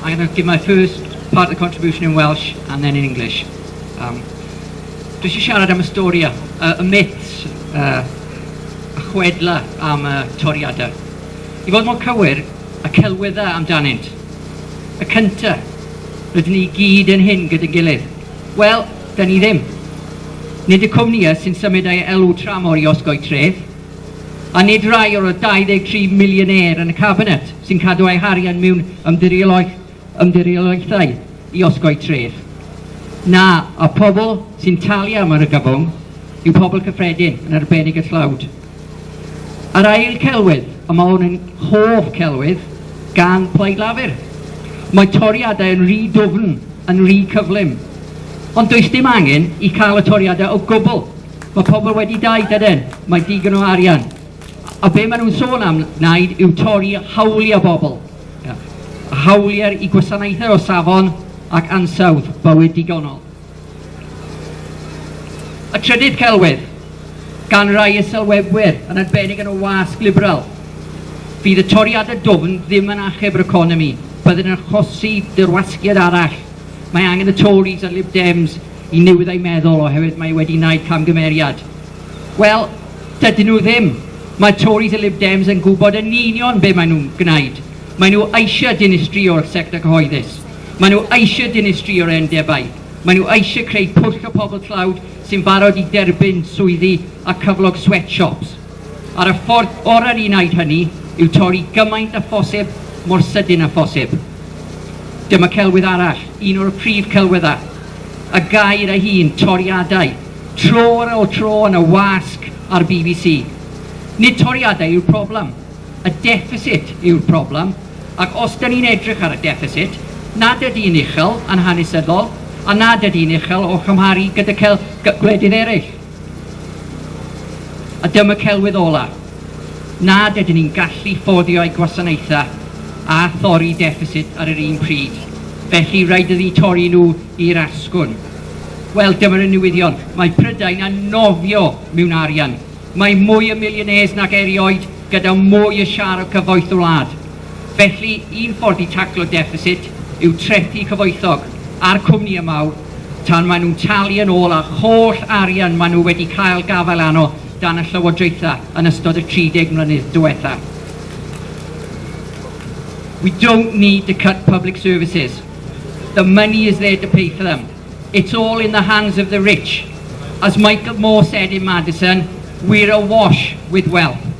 I'm going to give my first part of the contribution in Welsh and then in English. Um, Dwi eisiau siarad am y stori, uh, y myths, uh, y chwedla am y toriadau. I fod mor cywir, y celwyddau amdanynt. Y cynta, rydyn ni gyd yn hyn gyda'n gilydd. Wel, da ni ddim. Nid y cwmnïau sy'n symud ei elw tramor i osgoi tref, A nid rai o'r 23 miliynair yn y Cabinet sy'n cadw eu harian mewn ymdiriolaethau i osgoi treth. Na, y pobl sy'n talu am yr ygabwng yw pobl cyffredin, yn arbennig y tlawd. A'r ail celwydd, a mae hwn yn hoff celwydd gan Plaid Lafur, mae toriadau yn rhy dwfn, yn rhy cyflym. Ond does dim angen i cael y toriadau o gwbl. Mae pobl wedi dau dyden, mae digon o arian. A be maen nhw'n sôn am wneud yw torri hawliau bobl. A hawliau i gwasanaethau o safon ac ansawdd bywyd digonol. Y trydydd celwydd, gan rai y sylwebwyr, yn arbennig yn y wasg liberal, fydd y toriadau dwfn ddim yn achub yr economi, byddwn yn achosi dirwasgiad arall. Mae angen y Tories a'r Lib Dems i newid eu meddwl oherwydd mae wedi wneud camgymeriad. Wel, dydyn nhw ddim. Mae Tories a Lib Dems yn gwybod yn union be maen nhw'n gwneud. Maen nhw eisiau dinistrio'r sector cyhoeddus. Maen nhw eisiau dinistrio'r undebau. Maen nhw eisiau creu pwll o pobl tlawd sy'n barod i dderbyn swyddi a cyflog sweatshops. Ar y ffordd orau i wneud hynny yw torri gymaint â phosib mor sydyn â phosib. Dyma celwydd arall, un o'r prif celwyddau, y gair ei hun, toriadau, tro ar ôl tro yn y wasg a'r bbc. Nid toriadau yw'r problem, y deffisit yw'r problem, ac os dŷn ni'n edrych ar y deffisit, nad ydy'n uchel yn hanesyddol a nad ydy'n uchel o chymharu gyda gwledydd eraill. A dyma celwydd ola'. Nad ydyn ni'n gallu fforddio ei gwasanaethau a thorri deffisit ar yr un pryd, felly rhaid iddi torri nhw i'r asgwrn. Wel, dyma'r un newyddion, mae Prydain yn nofio mewn arian. Mae mwy o millionaires nag erioed gyda mwy o siâr o gyfoeth y wlad. Felly, un ffordd i taclo deffisit yw trethi cyfoethog a'r cwmnïau mawr tan maen nhw'n talu yn ôl ar holl arian maen nhw wedi cael gafael arno gan y Llywodraethau yn ystod y 30 mlynedd diwetha. We don't need to cut public services. The money is there to pay for them. It's all in the hands of the rich. As Michael Moore said in Madison, we're awash with wealth.